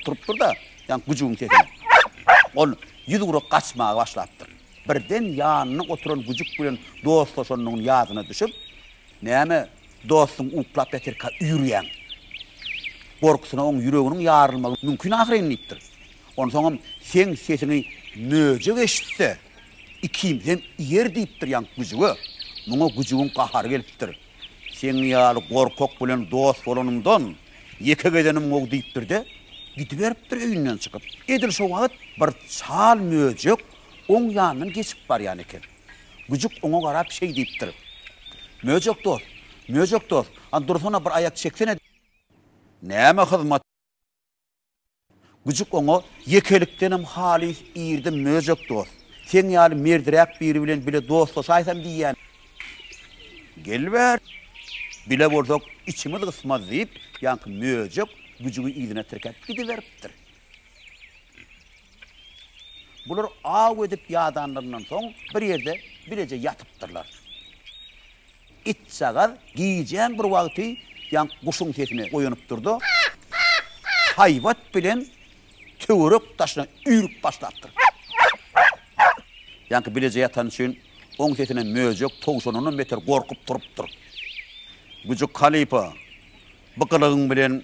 Turupdyr-da, ýaňky güjügiň sesine ol ýüz urup gaçmaga başlapdyr. Birden ýanynda oturan güjük bilen dostlaşanynyň ýadyna düşüp, Näme, dostuň uklap ýatyrka üýrýäň? Gorkusyna oň ýüreginiň ýarylmagy mümkin ahyryn diýipdir. Onsoňam seň sesiňi möjek eşitse, ikimizem iýer diýipdir ýaňky güjüge. Muňa güjügiň gahary gelipdir. Seň ýaly gorkak bilen dost bolanymdan, ýeke gezenim gowy diýipdir-de, gidiberipdir öýünden çykyp. Edil şo wagt bir çal möjek oň ýanyndan geçip barýan eken. Güjük oňa garap şeý diýipdir, Möjek dost, möjek dost, a dursana bir aýak çeksene. Näme hyzmat? Güjük oňa ýekelikdenem halys irdim Möjek dost, seň ýaly merdiräk biri bilen bile dostlaşaýsam diýýän. Gel bäri, bile bolsak içimiz gysmaz diýip, ýaňky Möjek Güjügi yzyna tirkäp gidiberipdir. Bular aw edip ýadanlaryndan soň bir ýerde bileje ýatypdyrlar. Itjagaz gijäň bir wagty ýaňk guşuň sesine oýanypdyr-da, haýbat bilen töwerek daşyna üýrüp başlapdyr. Ýaňky bileje ýatany üçin, oň sesine möjek towşandanam beter gorkup turupdyr. Güjük halypa, bu gylygyň bilen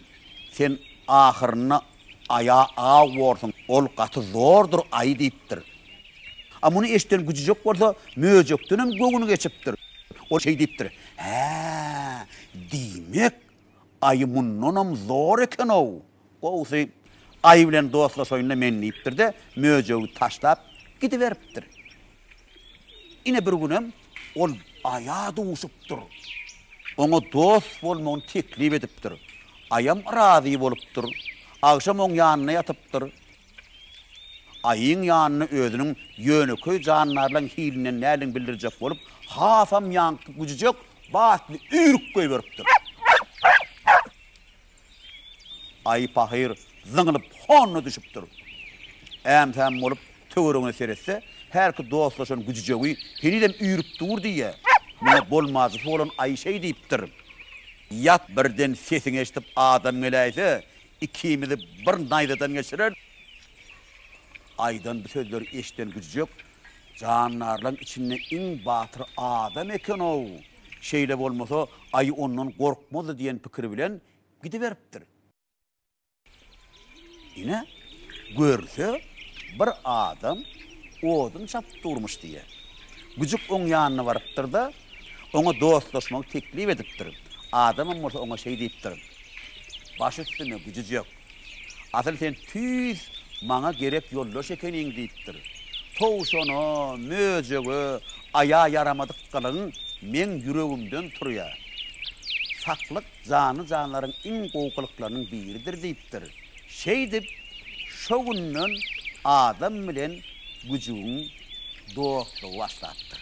sen ahyrynda Aýa aw borsuň, ol gaty zordur aýy diýipdir. A muny eşiden güjüjek bolsa möjekdenem göwni geçipdir. Ol şeý diýipdir, Hä, diýmek, aýy mundanam zor eken-ow. Gowusy, aýy bilen dostlaşaýyn-da men diýipdir-de, möjegi taşlap gidiberipdir. Ine bir günem ol Aýa duşupdyr. Oňa dost bolmagyny teklip edipdir. Aýam razy bolupdyr. Agşam oň ýanynda ýatypdyr. Aýyň ýanyna özüniň ýönekeý jandarlaň hilinden näldin bildirjek bolup, hasam ýaňky güjüjek batly üýrük goýberipdir. Aýy pahyr zyňlyp honyna düşüpdir. Äm-säm bolup töweregine seretse, hälki dostlaşan güjüjegi henizem üýrüp dur diýýä. Muňa bolmajysy bolan aýy şeý diýipdir, Ýat, birden sesiňi eşidip adam geläýse, ikimizi bir naýzadan geçirer. Aýydan bu sözleri eşiden güjüjek Jandarlaň içinde iň batyr adam eken-ow! Şeýle bolmasa, aýy ondan gorkmazdy diýen pikir bilen gidiberipdir. Ine, görse, bir adam odun çapyp durmuş diýýär. Güjük oň ýanyna barypdyr-da, oňa dostlaşmagy teklip edipdir. Adamam bolsa oňa şeý diýipdir, Baş üstüne, güjüjek! Asyl sen tüýs maňa gerek ýoldaş ekeniň diýipdir. Towşana, möjege aýa ýaramadykkalaň meň ýüregimden turýar. Saklyk janly-janlaryň iň gowy gylyklarynyň biridir diýipdir. Şeýdip, şo günden adam bilen güjügiň dostlugy başlapdyr.